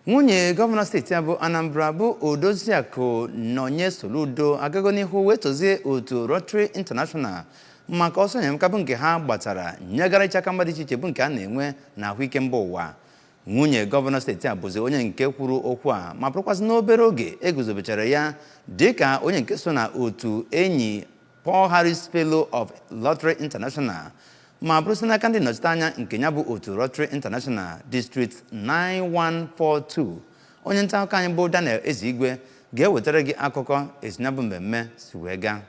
nwunye gọvanọ steeti a bụ anambra bụ odoziakụ nọnye soludo agago n'ihu wee tozie otu rotary international maka ọsọ enyemaka bụ nke ha gbatara nyegara ịcha aka mgba dị iche iche bụ nke a na-enwe na ahụike mba ụwa nwunye gọvanọ steeti a bụzi onye nke kwuru okwu a ma bụrụkwazị n'obere oge eguzobechara ya dịka onye nke so na otu enyi Paul Harris Fellow of Rotary International ma bụrụzị n'aka ndị nnọchiteanya nke ya bụ otu Rotary International District 9142 onye nta akụkọ anyị bụ Daniel Ezeigwe ga-ewetara gị akụkọ etu ya bụ mmemme si wee gaa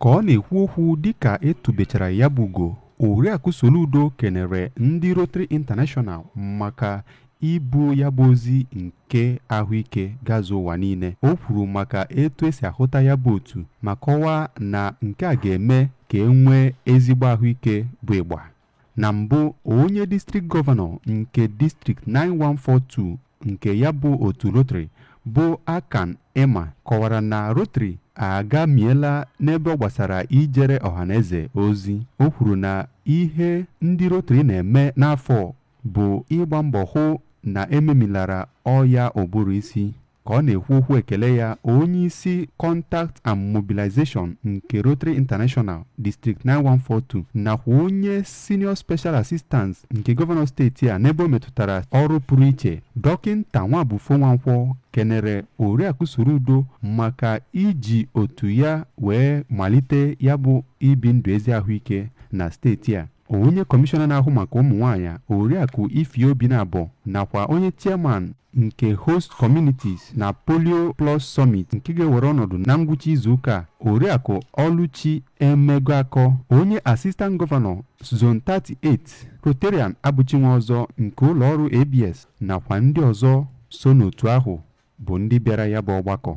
ka ọ na-ekwu okwu dịka etubechara ya bụ ugo oriakụ Soludo kenere ndị Rotary International maka ibu ya bụ ozi nke ahụike gazu ụwa niile o kwuru maka etu esi ahụta ya bụ otu ma kọwaa na nke a ga-eme ka e nwee ezigbo ahụike bụ ịgba na mbụ onye district gọvanọ nke district 9142 nke ya bụ otu Rotary bụ Akan Emah kọwara na Rotary agamiela n'ebe ọ gbasara ijere ọhaneze ozi o kwuru na ihe ndị Rotary na-eme n'afọ bụ ịgba mbọ hụ na ememilara ọya ụbụrụ isi ka ọ na-ekwu okwu ekele ya onye isi contact and mobilization nke Rotary International District 9142 nakwa onye senior special assistant nke gọvanọ steeti a n'ebe o metụtara ọrụ pụrụ iche dọkịnta Nwabufo Nwankwọ kenere Oriakụ Soludo maka iji otu ya wee malite ya bụ ibi ndụ ezi ahụike na steeti a onye kọmishọna na-ahụ maka ụmụ nwaanyị oriakụ Ify Obinabo nakwa onye chairman nke host communities na polio plus summit nke ga-ewere ọnọdụ na ngwụcha izuụka a oriakụ ọlụchi emegoakọ onye assistant gọvanọ zone 38 rotarian abụchi nwọzọ nke ụlọọrụ abs nakwa ndị ọzọ so n'otu ahụ bụ ndị bịara ya bụ ọgbakọ